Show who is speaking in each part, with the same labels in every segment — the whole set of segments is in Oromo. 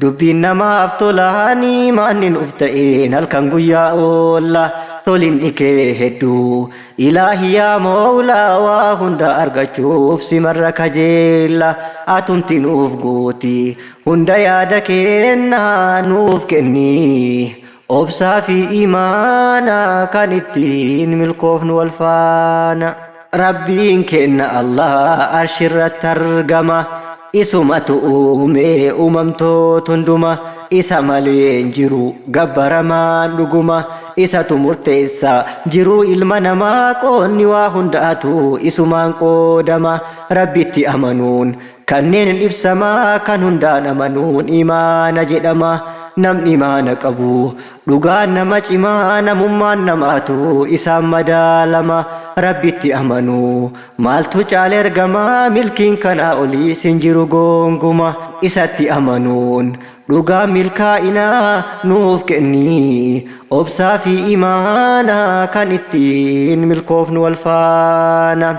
Speaker 1: Dubbiin namaaf tolaa ni maanni nuuf ta'een halkan guyyaa oolla tolinni kee hedduu ilaahi yaa moolaa waa hunda argachuuf simarra kajeella atumti nuuf guuti hunda yaada keenna nuuf kenni Obsaa fi imaana kan ittiin milkoofnu wal faana. Rabbiin keenna Allah arshirratti argama. Isumatu uume uumamtoot hunduma. Isa malee hin jiru gabbaramaan dhuguma. Isatu murteessa jiruu ilma namaa. Qoodni waa hundaatu isumaan qoodama. Rabbitti amanuun Kanneen hin ibsama kan hundaan amanuun imaana jedhama namni imaana qabu dhugaan nama cima namummaan namaatu isaan madaalama rabbitti amanu maaltu caala ergama milkiin kanaa oliis hin jiru goonguma isatti amanuun dhugaan milkaa'ina nuuf kenni obsaa fi imaana kan ittiin milkoofnu wal faana.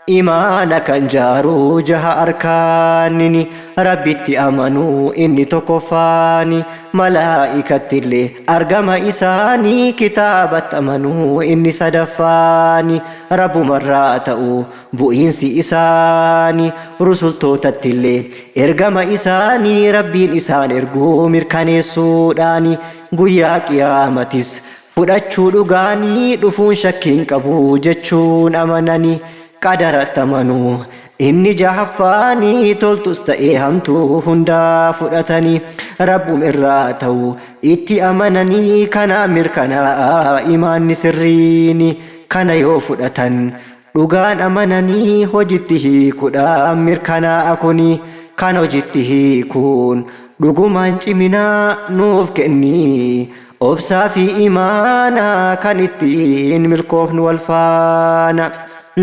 Speaker 1: Imaana kan jaaru jaha arkaanini, Rabbitti amanu inni tokkoffaani, Malaa'ikattillee argama isaani, Kitaabatti amanu inni sadaffaani, Rabbumarraa ta'u bu'iinsi isaani, Rusultootattillee ergama isaani, Rabbiin isaan ergu mirkaneessuudhaani, Guyyaa qiyaamatis fudhachuu dhugaani dhufuun shakkii hin qabu jechuun amanani. Qadaratti amanu. Inni jahaffaani toltus ta'ee hamtuu hundaa fudhatani Rabbum irraa ta'u itti amanani kanaa mirkanaa'a imaanni sirriini. Kana yoo fudhatan Dhugaan amananii hojitti hiikuudhaan mirkanaa'a kuni kan hojitti hiikuun dhugumaan cimina nuuf kenni obsaa fi imaana kan ittiin milkoofnu wal faana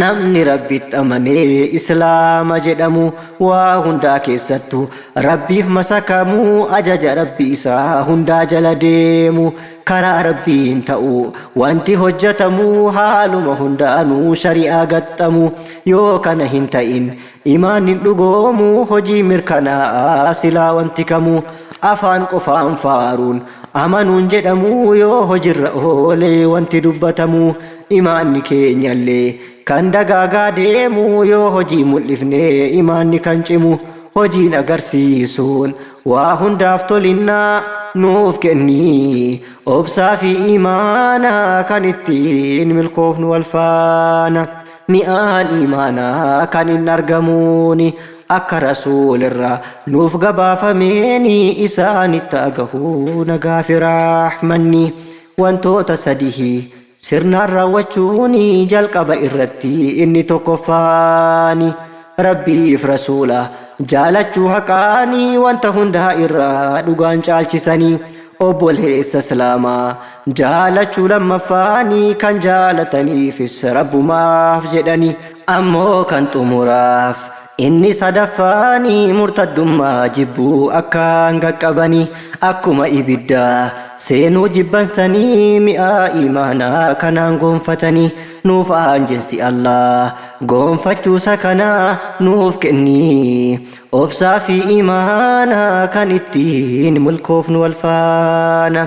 Speaker 1: namni rabbitti amanee islaama jedhamu waa hundaa keessattu rabbiif masakamu ajaja rabbi isaa hundaa jala deemu Karaa Rabbiin ta'uu. Wanti hojjatamu haaluma hundaanuu shari'aa gaxxamu. Yoo kana hin ta'in imaanni hin dhugoomu, hojiin mirkanaa'a silaa wanti kamu. Afaan qofaan faaruun amanuun jedhamu yoo hojirra oole wanti dubbatamu. Imaanni keenyallee kan dagaagaa deemu yoo hojii mul'ifne imaanni kan cimu. Hojiin agarsiisuun Waa hundaaf tolinna nuuf kenni Obsaa fi iimaana kan ittiin milkoofnu wal faana Mi'aan iimaanaa kan hin argamuuni Akka Rasuulirraa nuuf gabaafameeni Isaanitti haa gahu nagaa fi rahmanni Wantoota sadihi Sirnaan raawwachuun jalqaba irratti inni tokkoffaani Rabbiif Rasuula jaalachuu haqaani wanta hundaa irraa dhugaan caalchisanii obboleessa Islaamaa jaalachuu lammaffaani kan jaalataniifis Rabbumaaf jedhani ammoo kan xumuraaf Inni sadaffaan murtaddummaa jibbuu akkaan qaqqabanii akkuma ibiddaa seenuu jibban sanii mi'aa iimaanaa kanaan goonfatanii nuuf aanjessi Allaah goonfachuusa kana nuuf kenni obsaa fi iimaana kan ittiin milkoofnu wal faana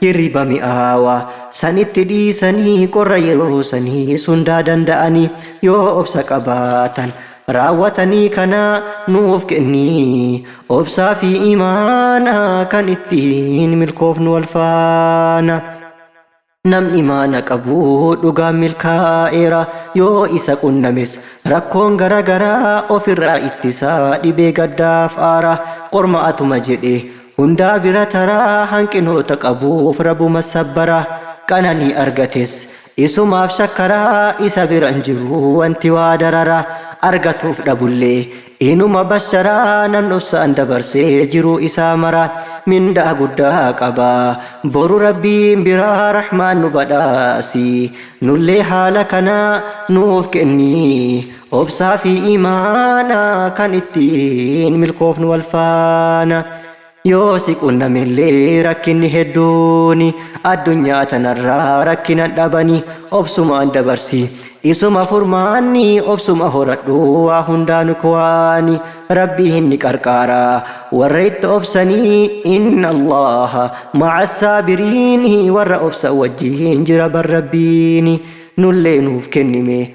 Speaker 1: Hirriba mi'aawaa sanitti dhiisanii qorra yeroo saniis hundaa danda'anii yoo obsa qabaatan raawwatanii kana nuuf kenni obsaa fi imaana kan ittiin milkoofnu wal faana. Namni imaana qabu dhugaan milkaa'eera yoo isa qunnames rakkoon gara garaa ofirraa ittisa dhibee gaddaaf aara qormaatuma jedhee Hundaa bira tara hanqinoota qabuuf rabuma sabbara qananii argates isumaaf shakkara isa bira hin jiru wanti waa darara argatuuf dhabullee inuma bashara namni obsaan dabarse jiruu isaa mara mindaa guddaa qaba boru rabbiin bira rahmaan nu badhaasi nullee haala kana nuuf kenni Obsaa fi iimaana kan ittiin milkoofnu wal faana Yoo si qunnamillee rakkinni hedduun Addunyaa tanarraa rakkinan dhabani Obsumaan dabarsi isuma furmaanni Obsuma horadhu waa hundaanu kuwaani Rabbii hin ni qarqaara warra itti obsanii Inna Allaaha ma'a saabiriin Warra obsan wajjiin jira bar Rabbiin Nullee nuuf kennime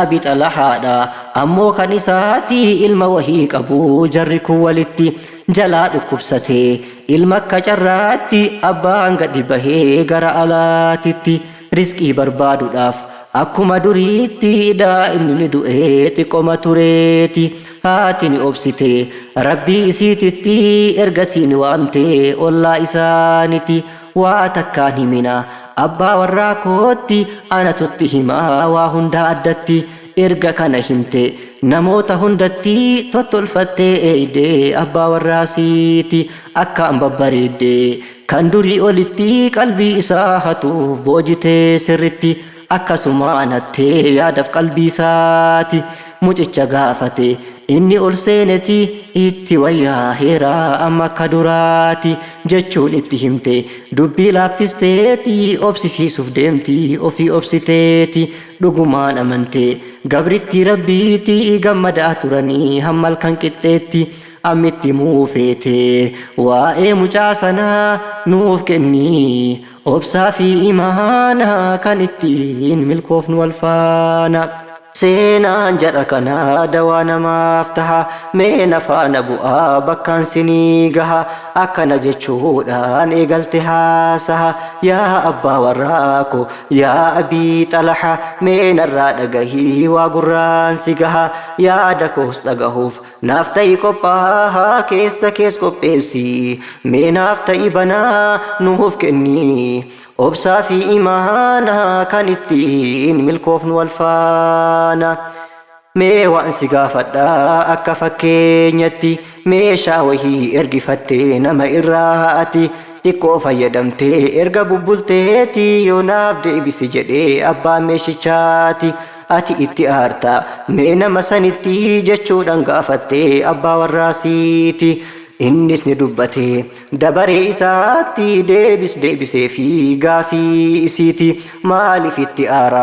Speaker 1: Abi xalahaadha ammoo kan isaati ilma wahii qabu jarri kun walitti jalaa dhukkubsate ilma akka carraatti abbaan gadi bahee gara alaatitti risqii barbaadudhaaf akkuma duriitti daa'imni ni du'ee xiqqoma tureeti haati ni obsite rabbii isiititti ergasii ni waamte ollaa isaaniti Waa takka hin himina abbaa warraa kootti anatu itti hima waa hundaa addatti erga kana himte namoota hundatti tottolfattee eeyde abbaa warraa siiti akkaan babbareedde kan durii olitti qalbii isaa hatuuf boojitee sirritti Akkasumaan hattee yaadaf qalbiisaati mucicha gaafate inni ol seeneti itti wayyaaheera amma akka duraati jechuun itti himte dubbii laaffisteeti obsisiisuuf deemti ofii obsiteeti dhugumaan amante gabrittii rabbiiti gammadaa turanii hamma halkan qixxeetti ammitti muu feete waa'ee mucaa sanaa nuuf kennii Obsaa fi imaana kan ittiin milkoofnu wal faana. Seenaan jara kanaa dawaa namaaf taha mee na faana bu'aa bakkaan sinii gaha akkana jechuudhaan eegalte haasaha yaa abbaa warraa ko yaa abii xalaha mee narraa dhagahii waa gurraan si gaha yaada koos dhagahuuf Naaf ta'i qophaahaa keessa kees qopheessi mee naaf ta'i banaa nuuf kenni obsaa fi imaana kan ittiin milkoofnu wal faana mee waan si gaafadha akka fakkeenyatti meeshaa wahii ergifattee nama irraa ati xiqqoo fayyadamtee erga bubbulteeti yoo naaf deebisi jedhee abbaan meeshichaati Ati itti aarta mee nama sanitti jechuudhaan gaafatte abbaa warraasiiti. Innis ni dubbate dabaree isaatti deebis deebisee fi gaafii isiiti maaliif itti aara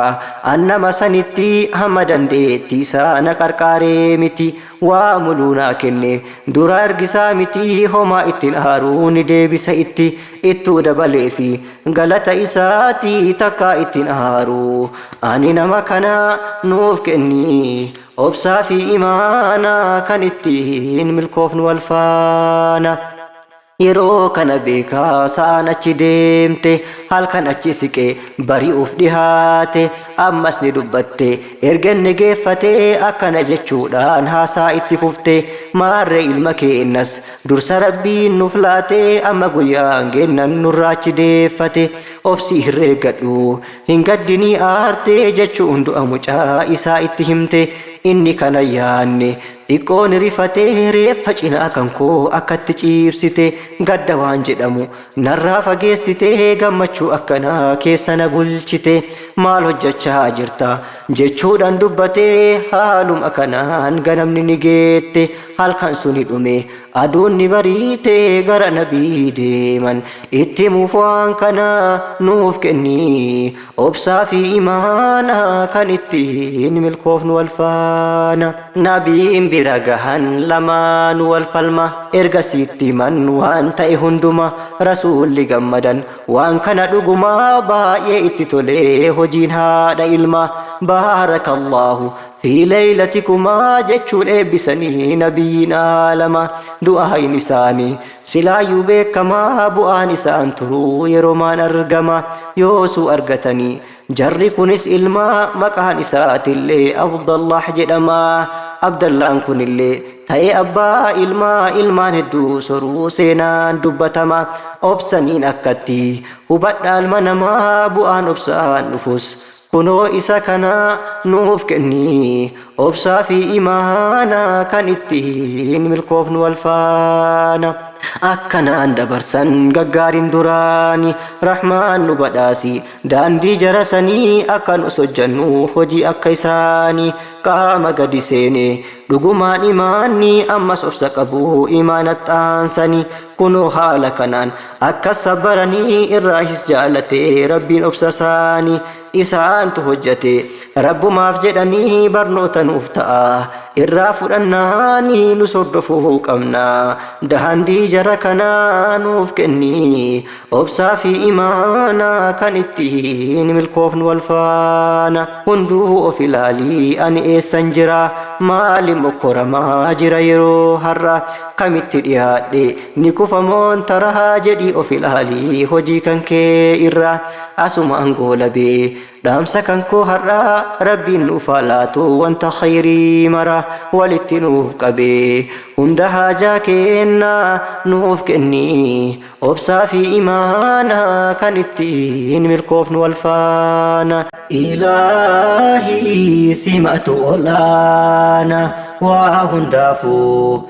Speaker 1: an nama sanitti hamma dandeetti isaa na qarqaaree miti Waa muluu naa kenne. Duraa ergisaa mitii homaa ittin aaruu ni deebisa itti ittuu dabaleefi galata isaati takkaa ittin aaruu ani nama kana nuuf kenni obsaa fi imaana kan ittiin milkoofnu wal faana. Yeroo kana beekaa sa'aan achi deemte halkan achi siqee bari'uuf dhihaate ammas ni dubbatte erga inni geeffate akkana jechuudhaan haasaa itti fufte maarree ilma keennas dursa rabbiin nuuf laate amma guyyaan geennan nurraa achi deeffate obsii hirreeggadhu hin gaddinii aarte jechuun du'a mucaa isaa itti himte inni kana yaanne Xiqqoo ni rifate reeffa cinaa kan koo akkatti ciibsite gadda waan jedhamu narraa fageessite gammachuu akkanaa keessa na bulchite maal hojjachaa jirta jechuudhaan dubbate haaluma kanaan ganamni ni geette halkan suni dhume aduun ni bariite gara nabii deeman itti himuuf waan kana nuuf kennii Obsaa fi imaana kan ittiin milkoofnu wal faana Nabiin bira gahan lamaanu wal falma Erga sitti himan waan ta'e hunduma Rasuulli gammadan waan kana dhuguma Baay'ee itti tolee hojiin haadha ilma Baarakallaahu fi leeylatikumaa jechuun eebbisanii Nabiyyiin aalama Du'aayin isaanii Silaayuu beekama bu'aan isaan turuu yeromaan argama yoosuu argatanii jarri kunis ilma maqaan isaatillee Abdallaah jedhama Abdallaan kunillee ta'ee abbaa ilmaa ilmaan hedduu soruu seenaan dubbatama obsaniin akkatti hubadha ilma namaa bu'aan obsaan dhufus Kunoo isa kana nuuf kenni obsaa fi imaana kan ittiin milkoofnu wal faana. Akkanaan dabarsan gaggaariin duraani Rahmaan nu badhaasi daandii jara sanii akka nus hojjannu hojii akka isaani qaama gadi seene dhugumaan imaanni ammas obsa qabu imaanatti aansani kunoo haala kanaan Akka sabbaranii irraahis jaalate Rabbiin obsa isaanii isaantu hojjate Rabbumaaf jedhanii barnoota nuuf ta'a irraa fudhannaanii nus hordofuu qabna daandii jara kanaa nuuf kenni obsaa fi imaana kan ittiin milkoofnu wal faana hunduu of ilaalii ani eessan jira maali mokkoramaa jira yeroo har'a kamitti dhiyaadhe Ni kufa moon tarahaa jedhii of ilaalii hojii kan kee irraa asumaan goolabee dhaamsa kan koo har'aa rabbiin nuuf haa laatu wanta khayrii mara walitti nuuf qabee hunda haajaa keennaa nuuf kennii obsaa fi imaana kan ittiin milkoofnu wal faana. Ilaahii simatu ol'aana waa hundaafuu.